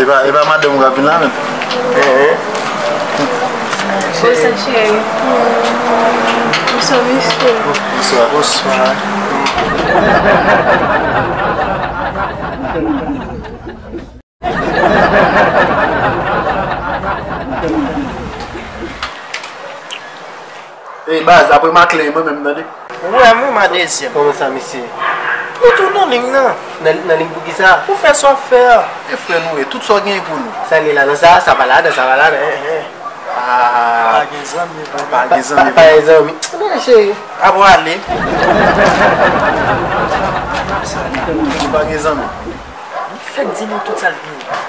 Epa madanm ou kap vin la menm Ey baz apre maclin mwen menm tande. Ou wèm wi ma dezyèm. Koman sa mesye? Nou tou nan ling nan. Nan ling poukisa? Pou fè sa wap fè a. E frè nou ye tout sa w genyen pou nou. Sa li ladan sa? Sa pa ladan sa pa ladan eh eh. Aah. Pa gen zanmi vre non. Pa gen zanmi vre. Pa gen zanmi. Nan cheri. A bon ale. Sa li pou nou. Li pa gen zanmi. Li fèk di nou tout sa l genyen.